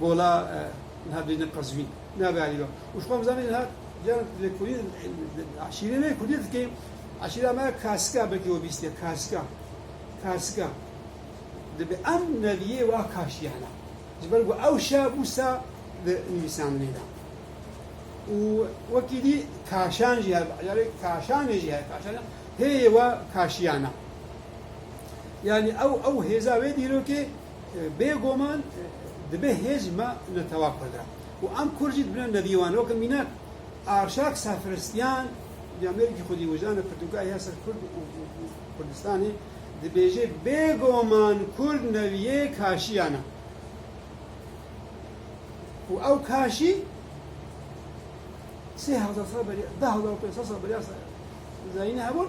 Gola niha bêne Qezwîn. Navê alî be. Û ji xwe ve zanî niha cîran lêkolîn eşîrê me kurdî dikê. Eşîra me Karsika belkî we bîstiye Karsika. Karsika. Dibe em neviyê wa kaşîye hene. Ji ber ku ew şa bû sa di nivîsandinê de. Û wekî dî kaşan jî hebe. Carê kaşanê jî hebe. Kaşan hêyê wa kaşîyan e. Yanî ew ew hêza wê dîrokê Bêguman dibe hêj me li teva Kurd re û em Kurd jî dibine nedîwan. Weke mînak Arşak Sefristyan di ameyekî xwedî wijdanê pirtûkayê ya ser Kurd û Kurdistanê dibêje, Bêguman Kurd neviyê kaşiyan e û ew kaşî sê hezar sal beriya, deh hezar û pênc sed sal beriya Zayînê hebûn.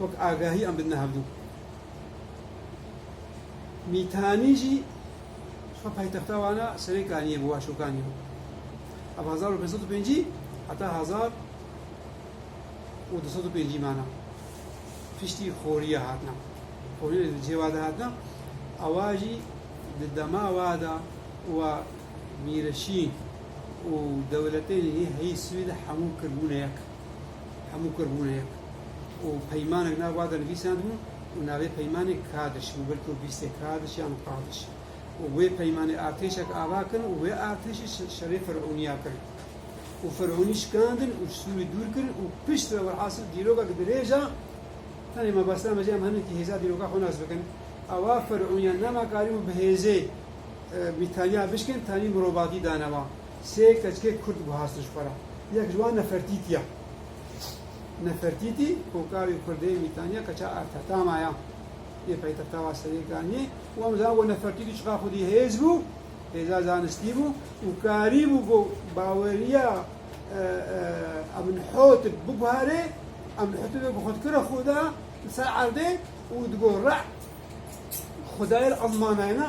wek agahî an bidine hevdû. Mîtanî jî xwe paytexta wan a serê kaniyê bû a şokanî bû. Ev hezar û pênc sed û pêncî heta hezar û du sed û pêncî mana. Piştî xoriya hatina. Xoriya li cihê wa de hatina. Ewa jî di dema wa de wa mîreşîn û dewletên hê heyî Swêd hemû kiribûne yek. Hemû kurd bûne yek û peymanek nav wa de nivîsandibû û navê peymanê Kadiş bû, belkî û bîstê Kadiş yan Qadiş û wê peymanê artêşek ava kirin û wê artêşê şerê Ferûnîya kirin û Ferûnî şikandin û ji Sûrî dûr kirin û pişt re welhasil dîrokek dirêj a, tenê me bes name jî em hinekî hêza dîroka xwe nas bikin, awa Ferûnîyan nema karîbû bi hêzê Mîtaniya bişkin, tenî mirovatî dane wan. Sê keçikê kurd guhastin ji xwe re. Yek ji wan Nefertîtî ye. Nefertîtî hokavê kurdê Mîtaniya keça Ertetama ye. Yê paytexta wa Serêkaniyê û em dizanin ku Nefertîtî çiqas xwedî hêz bû, hêza zanistî bû û karî bû ku baweriya Eminhotib biguherê. Eminhotib wê ku xwe dikir a xuda li ser erdê û digot Re'd, xudayê li ezmanayê ne.